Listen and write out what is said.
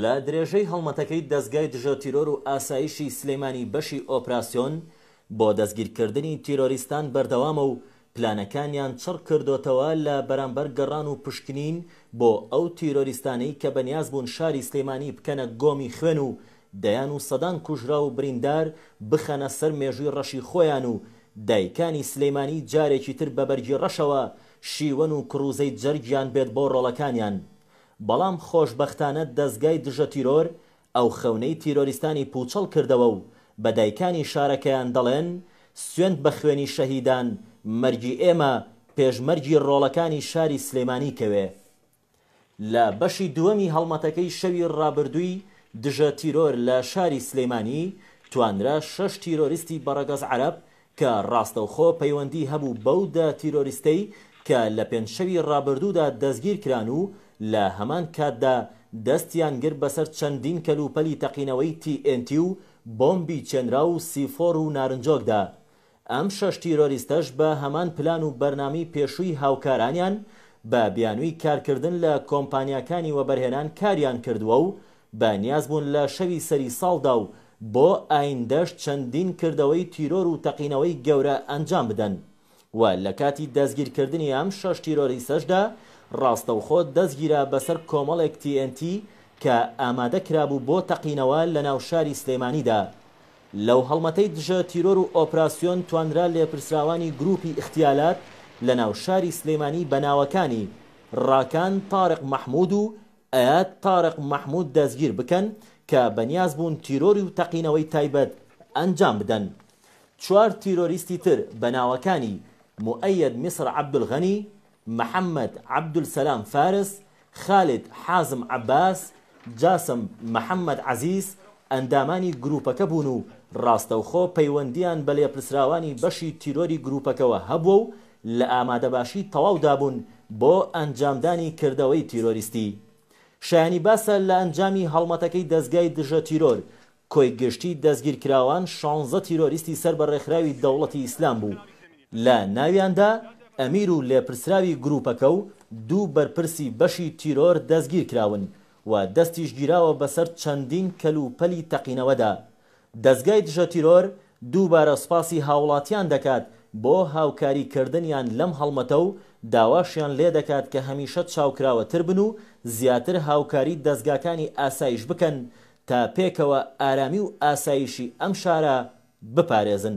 لە درێژەی هەڵمەتەکەی دەزگای دژە تیرۆر و ئاسایشی سلێمانی بەشی ئۆپراسیۆن بۆ دەستگیرکردنی تیرۆریستان بەردەوامە و پلانەکانیان چڕ کردۆتەوە لە بەرامبەر گەڕان و پشکنین بۆ ئەو تیرۆریستانەی کە بەنیاز بوون شاری سلێمانی بکەنە گۆمی خوێن و دەیان و سەدان کوژراو و بریندار بخەنە سەر مێژووی ڕەشی خۆیان و دایکانی سلێمانی جارێکی تر بە بەرگی ڕەشەوە شیوەن و کڕوزەی جەرگیان بێت بۆ ڕۆڵەکانیان بەڵام خۆشبەختانە دەزگای دژە تیرۆر ئەو خەونەی تیرۆریستانی پووچەڵ کردەوە و بە دایکانی شارەکەیان دەڵێن سوێند بە خوێنی شەهیدان مەرگی ئێمە پێش مەرگی ڕۆڵەکانی شاری سلێمانی کەوێ. لە بەشی دووەمی هەڵمەتەکەی شەوی ڕابردووی دژە تیرۆر لە شاری سلێمانی توانرا شەش تیرۆریستی بەڕەگەز عەرەب کە ڕاستەوخۆ پەیوەندی هەبوو بەو دە تیرۆریستەی کە لە پێنج شەوی ڕابردوودا دەستگیرکران و لە هەمان کاتدا دەستیان گرت بەسەر چەندین کەلوپەلی تەقینەوەی تی ئێن تی و بۆمبی چێنراو و سیفۆر و نارنجۆکدا ئەم شەش تیرۆریستەش بە هەمان پلان و بەرنامەی پێشووی هاوکارانیان بە بیانووی کارکردن لە کۆمپانیاکانی وەبەرهێنان کاریان کردووە و بە نیاز بوون لە شەوی سەری ساڵدا و بۆ ئایندەش چەندین کردەوەی تیرۆر و تەقینەوەی گەورە ئەنجام بدەن و لە کاتی دەستگیرکردنی ئەم شەش تیرۆریسەشدا ڕاستەوخۆ دەستگیرا بەسەر کۆمەڵێک تی ئێن تی کە ئامادە کرابوو بۆ تەقینەوە لە ناو شاری سلێمانیدا لەو هەڵمەتەی دژە تیرۆر و ئۆپراسیۆن توانرا لێپرسراوانی گروپی ئیختیالات لە ناو شاری سلێمانی بە ناوەکانی ڕاکان تارق مەحمود و ئەیاد تارق مەحمود دەستگیر بکەن کە بەنیاز بوون تیرۆری و تەقینەوەی تایبەت ئەنجام بدەن. چوار تیرۆریستی تر بە ناوەکانی، موئەیەد میسر عەبدولغەنی، محەمەد عەبدولسەلام فارس، خالید حازم عەباس، جاسم محەمەد عەزیز، ئەندامانی گرووپەکە بوون و ڕاستەوخۆ پەیوەندییان بە لێپرسراوانی بەشی تیرۆری گرووپەکەوە هەبووە و لە ئامادەباشی تەواودا بوون بۆ ئەنجامدانی کردەوەی تیرۆریستی. شایانی باسە لە ئەنجامی هەڵمەتەکەی دەزگای دژە تیرۆر، کۆی گشتی دەستگیرکراوان شانزە تیرۆریستی سەر بە ڕێکخراوی دەوڵەتی ئیسلام بوو، لە ناویاندا ئەمیر و لێپرسراوی گرووپەکە و دوو بەرپرسی بەشی تیرۆر دەستگیرکراون و دەستیش گیراوە بەسەر چەندین کەلوپەلی تەقینەوەدا دەزگای دژە تیرۆر دووبارە سوپاسی هاوڵاتیان دەکات بۆ هاوکاری کردنیان لەم هەڵمەتە و داواشیان لێدەکات کە هەمیشە چاوکراوەتر بن و زیاتر هاوکاری دەزگاکانی ئاسایش بکەن تا پێکەوە ئارامی و ئاسایشی ئەم شارە بپارێزن.